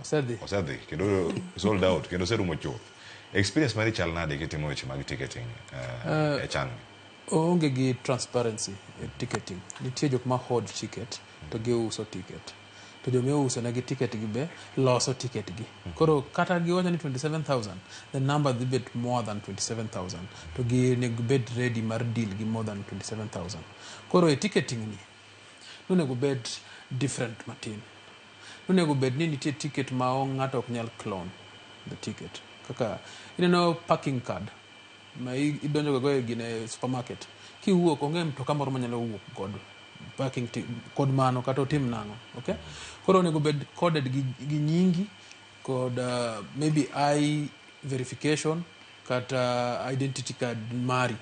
Osedhi. osedhi kendo sold out kendo oserumo chuth experience mari chal nade kitimo weche mag ticketing uh, e chan oonge gi transparency e ticketing nitie jok ma hold ticket to giuso ticket to joma iuso negi ticket gi be loso ticket gi koro kata giwacho ni 27000 the number dhi bet more than 27000 to ginego bed ready mar deal gi more than 27000 koro e ticketing ni nonego bed different matin Nonego bed ni nitie ticket ma ng'ato ok nyal clone the ticket. Kaka ineno parking card ma idonjo gogo e gine supermarket. Kiwuok onge mtoka moro manyalo wuok kod parking kod mano kata otim nang'o. Okay? Koro onego bed coded gi nyingi kod uh, maybe I verification kata identity card mari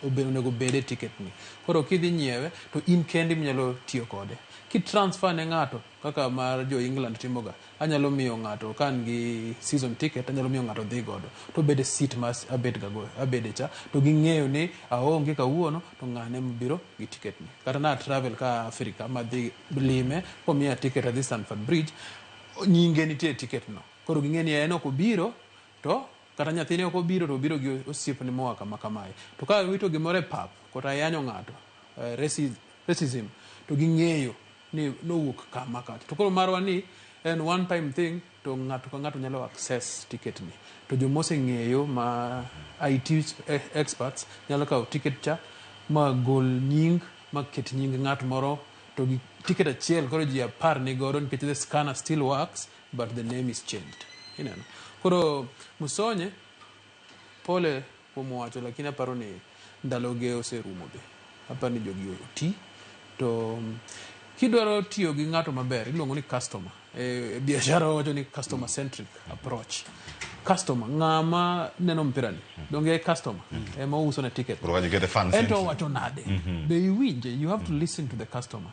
obe- onego bed e ticket ni koro kidhi nyiewe to in kendi minyalo tiyo kode ki transfer ne ng'ato kaka mar jo england timoga anyalo miyo ng'ato ka an gi season ticket anyalo miyo ng'ato dhi godo to obed e seat ma as- abed ga go- abede cha to ging'eyo ni aonge kawuono to ng'ane mobiro gi ticket ni kata na travel ka africa madhi lime komiya ticket adhi stanford bridge nyinge nitie e ticket no koro ging'e ni en ok obiro To kata nyathine ok obiro to obiro gi osiepne moa kama kamae. To ka iwito gimoro e pap kata yanyo ng'ato, eh, raci- racism, to ging'eyo ni nowuok kama kacha. To koro marwa ni en one time thing to ng'ato ka ng'ato nyalo access ticket ni. To joma oseng'eyo ma IT e- experts nyalo kawo ticket cha ma gol nying ma ket nying ng'at moro to gi ticket achiel koro ji apar ni godo nikech the scanner still works but the name is changed ineno koro musonye pole kuom wacho lakini aparo ni ndaloge oserumo be aparo ni jogi oti to mm, kidwaro tiyo gi ng'ato maber iluongo ni customer e, e biashara wawacho ni customer centric approach customer ng'ama neno mpirani donge e customer ema ouso na ticket Koro kanyo kete fan ento central. owacho nade be iwinje you have to listen to the customer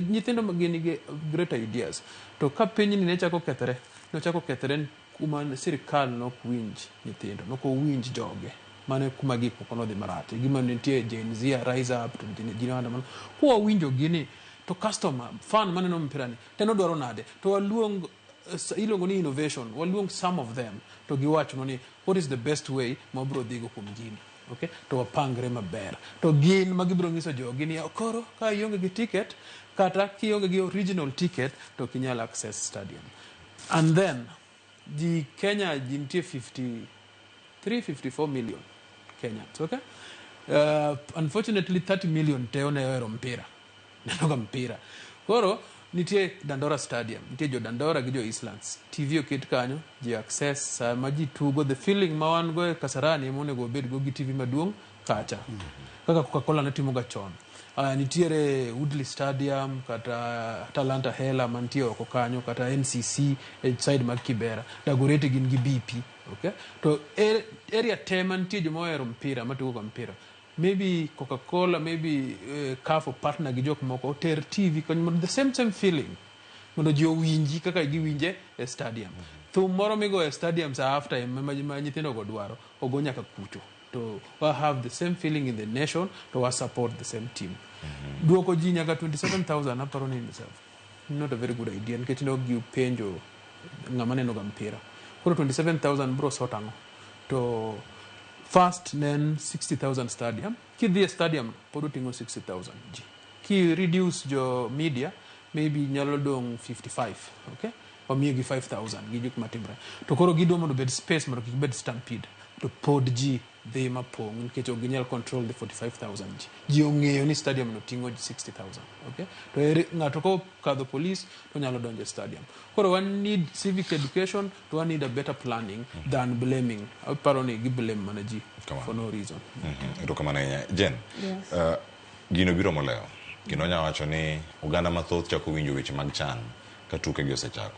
nyithindo ma gin gi great ideas To ka pinyni ne chako kethore, nochako kethore kuma sirkal ne ok winj nyithindo, ne ok owinj joge. Mano e kuma gik moko nodhi marach. E gima nitie Gen Z, Rise Up, to nitie Gen Alpha mano. Kwa winjo gini to customer, fan maneno mpira ni to en odwaro nade? To waluong iluongo ni innovation, waluong some of them to giwachnwa ni what is the best way ma wabiro dhigo kuom gini. Okay? To wapangre maber. To gin ma gibiro nyiso jogi ni koro ka ionge gi ticket kata kionge gi original ticket to ok inyal access stadium. And then ji Kenya ji nitie 53 54 million Kenyans, okay? Uh, unfortunately 30 million te oneyo hero mpira. neno ga mpira koro nitie dandora stadium nitie jo dandora gi jo islands tv oket kanyo ji access sama ji tugo the feeling ma wan go e kasarani ema onego wabed go gi tv maduong' kacha kaka coca-cola ne timoga chon uh, nitiere woodley stadium kata talanta hela mantie oko kanyo kata ncc e side mag kibera dagoreti gin gi bp okay? to er- area te mantie joma ohero mpira matugoga mpira Maybe coca cola, maybe uh, CAF partner gi jok moko oter TV kony mondo the same same feeling mondo ji owinji kaka giwinje e stadium. Mm -hmm. Thum moro migo e stadium sa after time ma nyithindo go dwaro ogo nyaka kucho to wa have the same feeling in the nation to wa support the same team. Mm -hmm. Duoko ji nyaka 27000 aparo ni not a very good idea nikech ne ok gipenjo ng'ama neno ga mpira koro 27000 bro sort ang'o to first ne en 60000 stadium kidhi e stadium pod oting'o 60000 ji ki reduce jo media maybe nyalo dong 55 okay wamiyo gi 5000 gi gik matimre to koro gidwa mondo obed space mondo kik bed stampede to pod ji dhi ma pong' nikech ok ginyal control the 45,000 ji. Ji ong'eyo ni stadium no ting'o ji 60,000. Okay? To ere ng'ato ka okadho police to nyalo donjo e stadium. Koro wan need civic education to wan need a better planning mm. than blaming. Aparo ni gi blame mana ji for no reason. Mhm. Erokamano mm -hmm. ahinya. Jen, yes. uh, gino biro moleo. Gino nyawacho ni oganda mathoth chako winjo weche mag chan ka tuke gi osechako.